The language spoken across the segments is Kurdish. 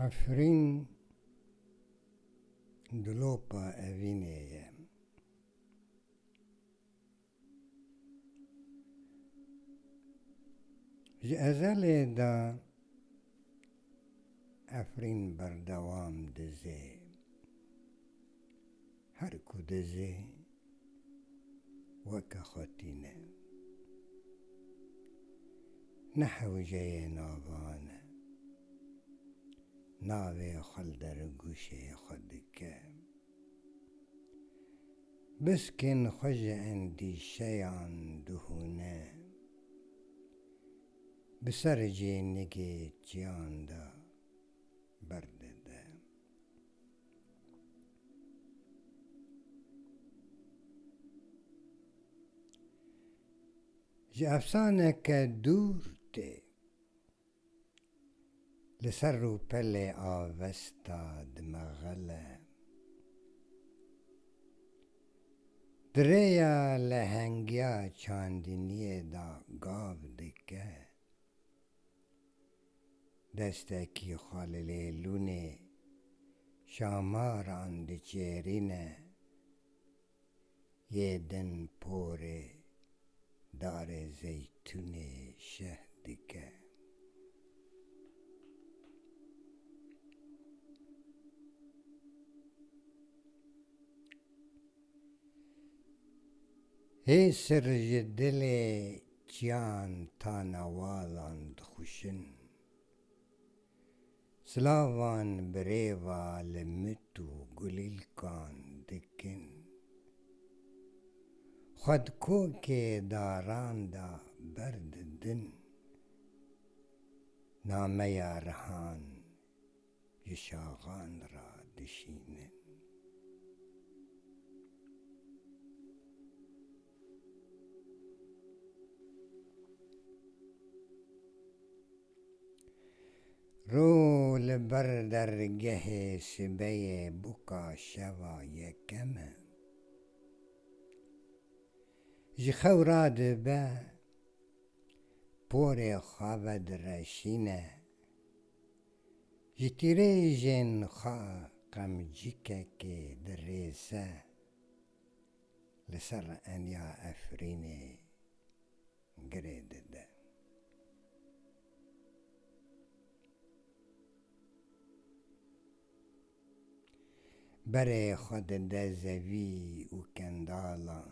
Efrîn dilopa evînê ye. Ji ezelê de Efrîn berdewam dizê. Her ku dizê weke xwe tîne. Ne hewceyê navan e. Navê xwe li derigûşê xwe dike. Biskên xwe ji endîşeyan dihûne. Bi ser cênigê çiyan de berdide. Ji efsaneke dûr tê. Li ser rûpelê avesta dimexile. Di rêya lehengiya çandiniyê de gav dike. Destekî xwe li lêlûnê şamaran diçêrîne, yê din porê Darê Zeytûnê şeh dike. Hêsir ji dilê Çiyan tana walan dixwişin. Silavan bi rêva li mit û gulîlkan dikin. Xwe di kokê daran de berdidin. Nameya rihan. Ji şaxan re dişînin. Rû li ber dergehê sibeyê bûka şeva yekem e. Ji xew radibe porê xwe vedireşîne. Ji tîrêjên xwe qemcikekê dirêze li ser eniya Efrînê girê dide. Berê xwe dide zevî û kendalan.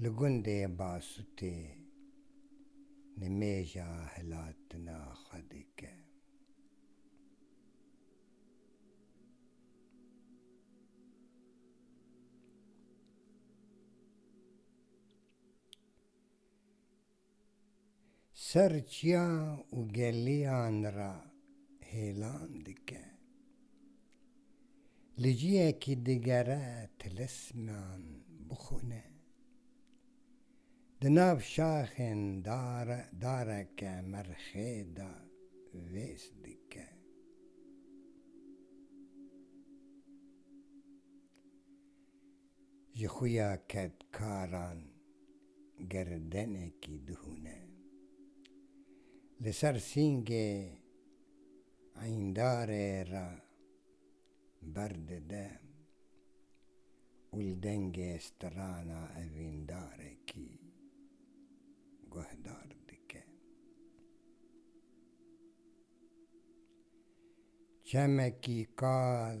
Li gundê Basûtê nimêja hilatina xwe dike. Ser çiyan û geliyan re hêlan dike. Li cihekî digere tilisman bixwine. Di nav şaxên dareke merxê de vês dike. Ji xuya kedkaran girdenekî dihûne. Li ser sîngê eyndarê re berdide û li dengê strana evîndarekî guhdar dike. Çemekî kal.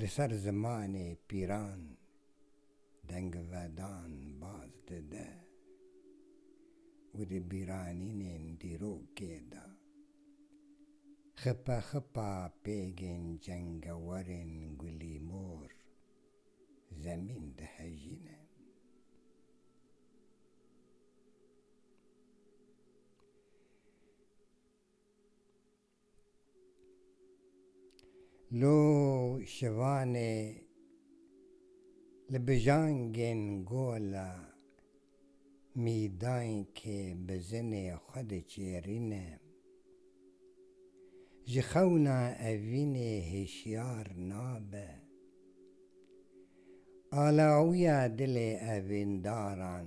Li ser zimanê pîran dengvedan baz dide û di bîranînên dîrokê de xipexipa pêgên cengewerên gulî mor zemîn dihejîne. Lo şivanê li bijangên gola mîdankê bi zinê xwe diçêrîne. Ji xewna evînê hişyar nabe. Alawiya dilê evîndaran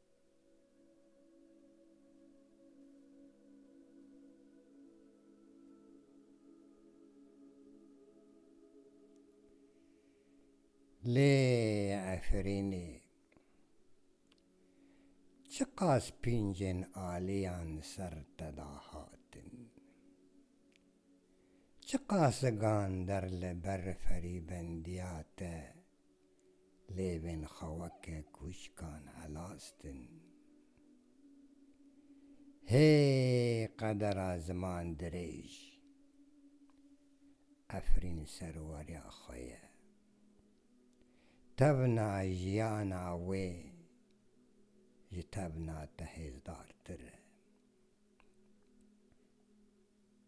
Lê Efrînê çiqas pîncên aliyan li ser te da hatin? Çiqas zigan der li ber ferîbendiya te Lêvên xeweke kûçkan helastin. Hê qedera ziman dirêj! Efrîn serwariya xwe ye. Tevna jiyana wê ji tevna te hêzdartir e.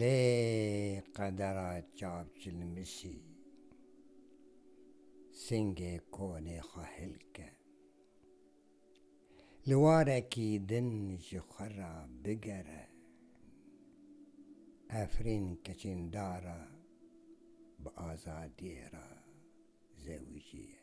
Lê qedera çavçilmişî singê konê xwe hilke. Li warekî din ji xwe re bigere. Efrîn keçîndara bi azadiyê re zewijiye.